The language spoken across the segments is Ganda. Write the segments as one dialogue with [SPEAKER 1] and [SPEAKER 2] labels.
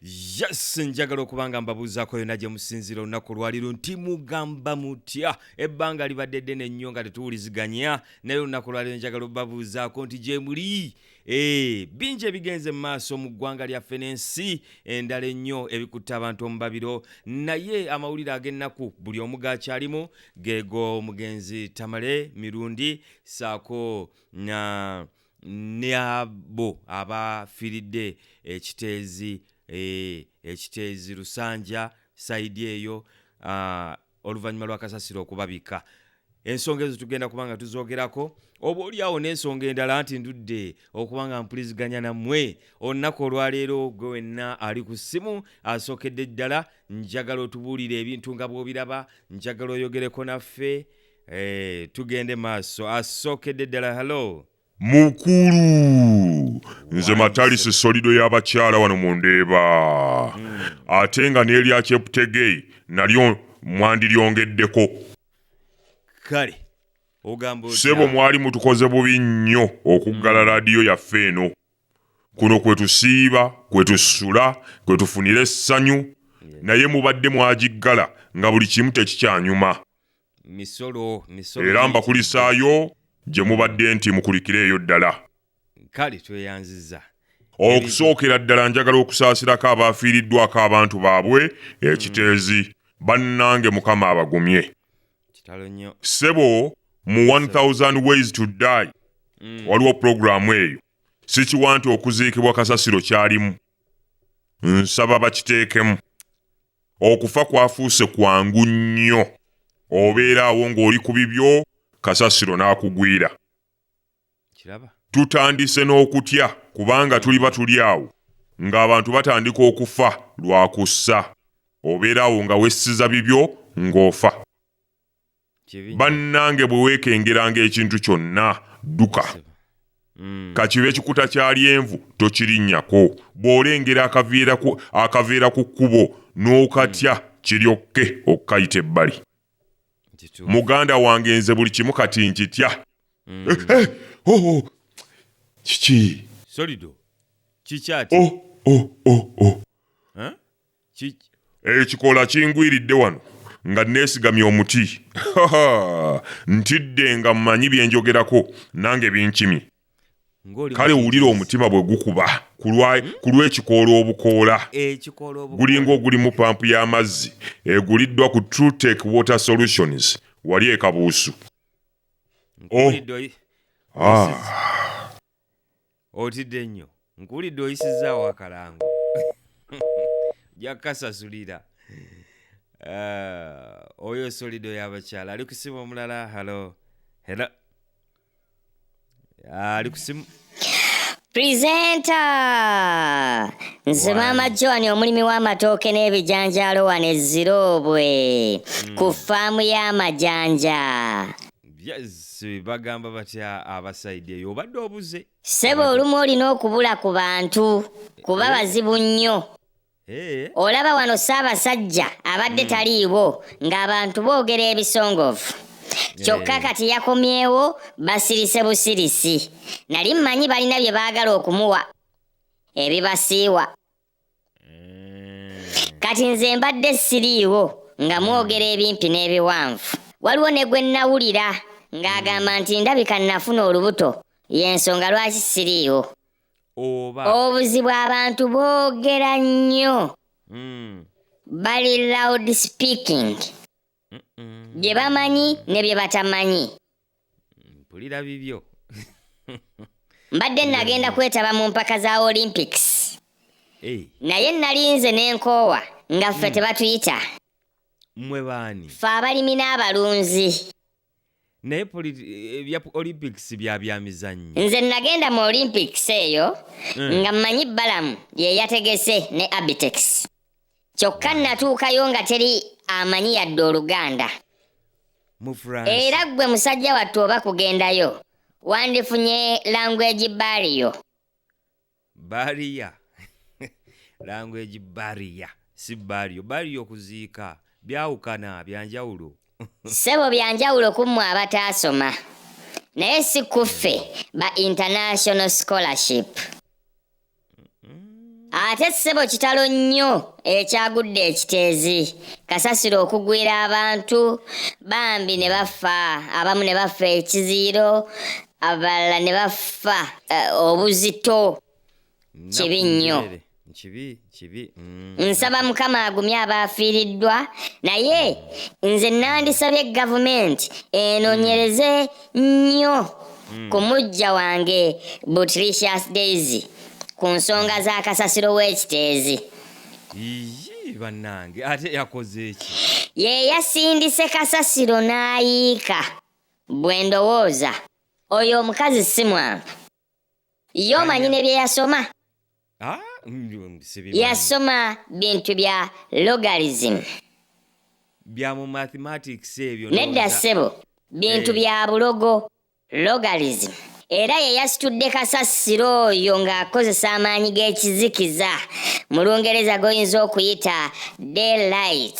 [SPEAKER 1] yes njagala okuba nga mbabuuzaako yona gye musinziira olunaku lwaliru nti mugamba mutya ebbanga libadde ddene nnyo nga tetuwuliziganya naye olunaku lwaliru njagala obabuuzaako nti gye muli ee eh, bingi ebigenze mu maaso mu ggwanga lyaffe n'ensi endala ennyo ebikutte abantu omubabiro naye amawulire ag'ennaku buli omu gaakyalimu geego omugenzi tamale mirundi saako na uh, ne abo abafiiridde ekiteezi eh, ekiteezi lusanja saidi eyo ah, oluvannyuma lwa kasasiro okubabika ensonga ezo tugenda kuba nga tuzogerako oba olyawo n'ensonga endala nti ndudde okuba nga mpuliziganya nammwe olunaku olwaleero gwe wenna ali ku ssimu asookedde ddala njagala otubuulire ebintu nga bw'obiraba njagala oyogereko naffe Eh, tugende maaso asookedde ddala halo mukulu
[SPEAKER 2] nze matalisi solido y'abakyala wano mu ndeeba ate nga n'erya cheptegei nalyo mwandiryongeddeko
[SPEAKER 1] kale ogamba otya? sebo mwali
[SPEAKER 2] mutukoze bubi nnyo okuggala laadiyo yaffe eno kuno kwe tusiiba kwe tusula kwe tufunira essanyu naye mubadde mwagiggala nga buli kimu tekikyanyuma
[SPEAKER 1] era
[SPEAKER 2] mbakulisaayo gye mubadde nti mukulikire eyo ddala kale
[SPEAKER 1] tweyanziza okusookera
[SPEAKER 2] ddala njagala okusaasirako abaafiiriddwako abantu baabwe hmm. ekiteezi bannange mukama abagumye
[SPEAKER 1] ssebo
[SPEAKER 2] mu 1000 ways to die hmm. waliwo pulogulaamu eyo sikiwa nti okuziikibwa kasasiro kyalimu nsaba bakiteekemu okufa kwafuuse kwangu nnyo obeera awo ng'oli ku bibyo kasasiro n'akugwira
[SPEAKER 1] tutandise
[SPEAKER 2] n'okutya kubanga tuliba tuli awo ng'abantu batandika okufa lwa kussa obeera awo nga wessiza bibyo ng'ofa bannange bwe weekengeranga ekintu kyonna dduka mm. kakiba ekikuta kya lyenvu tokirinnyako bw'olengera akaveera ku kkubo n'okatya mm. kiryokke okukayita ebbali muganda wange nze buli kimu kati nkitya mm. eh, eh, oh, oh.
[SPEAKER 1] kiki oh,
[SPEAKER 2] ekikola kingwiridde wano nga neesigamye omuti ntidde nga mmanyi bye njogerako nange binkimi kale wulira omutima bwe gukuba ku lw'ekikoola obukoola gulinga ogulimu pampu y'amazzi eguliddwa ku trutec water solutions wali ekabuusu oh.
[SPEAKER 1] otidde nnyo nkuwulidde oyisizzaawo akalango ojja kukasasulira Ah, oyo solido y'abakyala ali ku simu omulala halo helo Ah, ali ku simu Presenter!
[SPEAKER 3] Nze Why? maama Joan omulimi w'amatooke n'ebijanjaalo wano e Ziroobwe ku ffaamu y'amajanja. yes
[SPEAKER 1] bagamba batya abasaidi eyo obadde obuze ssebo olumu olina
[SPEAKER 3] okubula ku bantu kuba eh? bazibu nnyo eh? olaba wano ssaabasajja abadde hmm. taliiwo ng'abantu boogera ebisongovu eh. kyokka kati yakomyewo basirise busirisi nali mmanyi balina bye baagala okumuwa ebibasiiwa kati nze mbadde siriiwo nga mwogera ebimpi n'ebiwanvu waliwo ne gwe nnawulira ng'agamba nti ndabika nnafuna olubuto y'ensonga lwaki siriiwo oba obuzibu abantu boogera nnyo Mm. bali loud speaking Mm-mm. bye bamanyi ne bye batamanyi mpulira
[SPEAKER 1] bibyo
[SPEAKER 3] mbadde nagenda kwetaba mu mpaka za olympics Eh, naye nalinze n'enkoowa nga ffe tebatuyita mwe
[SPEAKER 1] baani ffe abalimi
[SPEAKER 3] n'abalunzi
[SPEAKER 1] naye poli- eh, ebya olympics bya bya mizannyo nze nagenda mu
[SPEAKER 3] olympics eyo Mm. nga mmanyi balamu ye yategese ne abitex kyokka natuukayo nga teri amanyi yadde oluganda era ggwe musajja wattu oba kugendayo wandifunye language bariyo
[SPEAKER 1] bariya language bariya si bariyo bariyo okuziika byawukana byanjawulo ssebo
[SPEAKER 3] byanjawulo ku mmwe abataasoma naye si kuffe ba international scholarship ate ssebo kitalo nnyo ekyagudde ekiteezi kasasiro okugwira abantu bambi ne bafa abamu ne bafa ekiziyiro abalala ne bafa eh, obuzito Kibi nnyo. Nnaku kibi kibi
[SPEAKER 1] mm. nsaba
[SPEAKER 3] mukama agumye abaafiiriddwa naye nze nandisabye gavumenti enonyereze nnyo hmm. ku mujja wange butricious daisy ku nsonga za kasasiro w'ekiteezi bannange
[SPEAKER 1] ate yakoze eki ye yasindise
[SPEAKER 3] kasasiro n'ayiika bwe ndowooza oyo omukazi si mwangu yomanyi ne bye yasoma ah, mm, yasoma bintu bya logarism
[SPEAKER 1] bya mu mathematics ebyo nedda ssebo
[SPEAKER 3] bintu eh. bya bulogo logarism era ye yasitudde kasasiro oyo ng'akozesa amaanyi g'ekizikiza mu lungereza g'oyinza okuyita daylight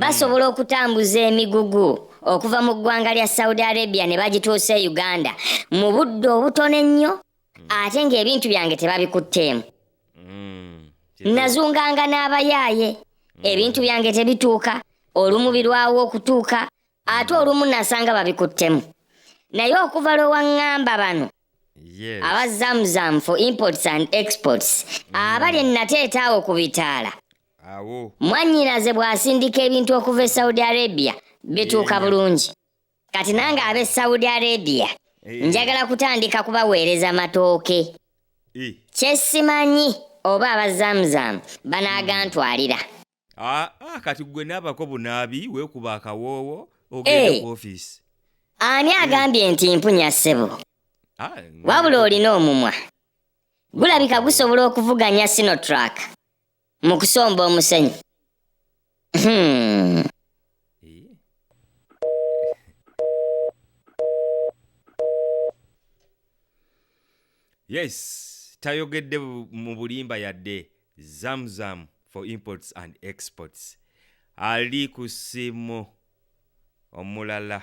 [SPEAKER 3] basobola hmm. okutambuza emigugu okuva mu ggwanga lya saudi arabia ne bagituusa e uganda mu budde obutono ennyo hmm. ate ng'ebintu byange tebabikutteemu hmm. nazunganga n'abayaaye ebintu byange tebituuka olumu birwawo okutuuka ate olumu nasanga babikuttemu naye okuva lwe waŋŋamba bano aba zamzam for imports and exports abali ennateetaawo ku bitaala awo mwannyinaze bw'asindika ebintu okuva e saudi arabia bituuka Yee. bulungi kati nange ab'e saudi arabia Eh. njagala kutandika kubaweereza matooke Eh. kye simanyi oba aba zamzamu banaagantwalira Ah,
[SPEAKER 1] ah, kati gwe naabako bunaabi weekuba akawoowo Eh. ogende ku ofiisi ani
[SPEAKER 3] agambye nti mpunya ssebo Ah, wabula olina omumwa gulabika gusobola okuvuganya sinotrak mu kusomba omusenyu Hmm.
[SPEAKER 1] yes tayogedde bu- mu bulimba yadde zamzam for imports and exports ali ku simu omulala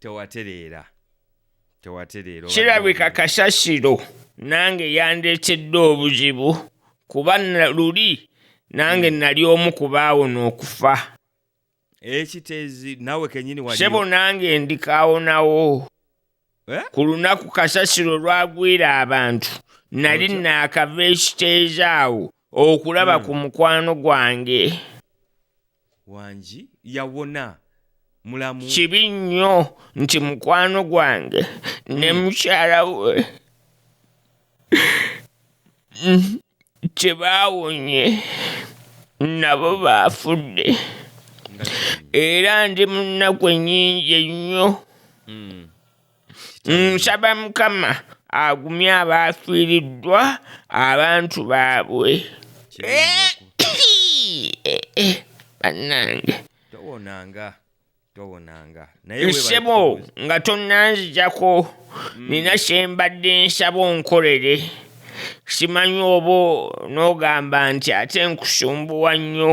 [SPEAKER 1] tewatereera tewatereera obadde
[SPEAKER 4] kirabika owulira. kasasiro nange yandeetedde obuzibu kuba na- luli nange nali omu ku baawona okufa
[SPEAKER 1] ekiteezi nawe kenyini wali sebo nange
[SPEAKER 4] ndikaawonawo Eh? ku lunaku kasasiro lwagwira abantu nali Otya? naakava ekiteeza awo okulaba mm. ku mukwano gwange
[SPEAKER 1] wangi yawona mulamu kibi nnyo
[SPEAKER 4] nti mukwano gwange mm. ne mukyala we kyebaawonye nabo baafudde era ndi mu nnaku ennyingi ennyo mm. nsaba mukama agumye abaafiiriddwa abantu baabwe eh, eh, eh, bannange towonanga towonanga
[SPEAKER 1] nsebo
[SPEAKER 4] nga tonnanzijako mm. nina kyembadde nsaba onkolere simanyi oba n'ogamba nti ate nkusumbuwa nnyo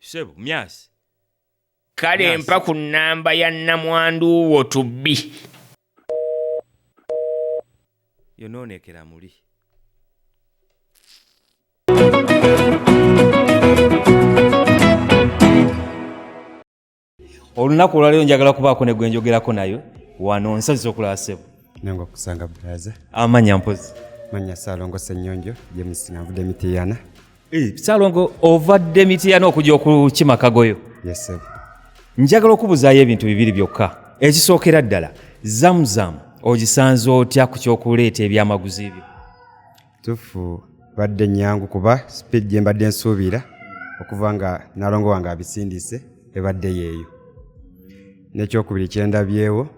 [SPEAKER 1] sebo myasi
[SPEAKER 4] kale Yes. mpa ku nnamba ya nnamwandu wo tubbi
[SPEAKER 1] yonoonekera muli olunaku olwaleero njagala kubaako ne gwe njogerako nayo wano nsazisa okulaba sebo nange okusanga
[SPEAKER 5] braza amanya mpozi
[SPEAKER 1] manya salongo
[SPEAKER 5] senyonjo james navude mitiyana eh, salongo
[SPEAKER 1] ovadde mitiyana okujja okukima kagoyo yes sebo
[SPEAKER 5] njagala
[SPEAKER 1] okubuzaayo ebintu bibiri byokka ekisookera ddala zamuzamu ogisanze otya ku kyokuleeta ebyamaguzi byo tufu
[SPEAKER 5] badde nyangu kuba speed gye mbadde nsuubira okuva nga nalongo wange abisindise ebadde yeeyo nekyokubiri kyendabyewo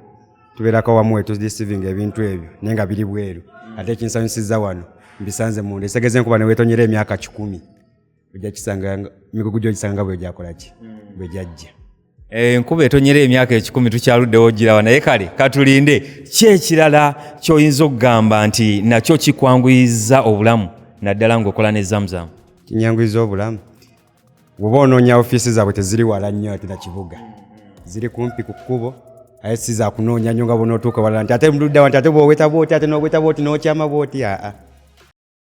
[SPEAKER 5] tubeerako wamu wetudisiving ebintu ebyo naye nga biri bweru ate ekinsanyusiza wano mbisanze munda esegeze nkuba newetonyera emyaka kikumi ojja kisanga mikugu gyo gisanga nga bwegyakola ki hmm. bwegyajja eh, enkuba
[SPEAKER 1] etonyera emyaka ekikumi tukyaluddewo girawa naye kale katulinde ki ekirala kyoyinza okugamba nti nakyo kikwanguyiza obulamu naddala ngaokola ne zamuzamu kinyanguyiza obulamu
[SPEAKER 5] woba onoonya ofiisi zaabwe teziri wala nnyo ate nakibuga ziri kumpi ku kkubo aye si zakunoonya nyo nga bona otuuka walala nti ate mududdawa nti ate bwoweta bwoti ate noweta bwoti nokyama bwoti aa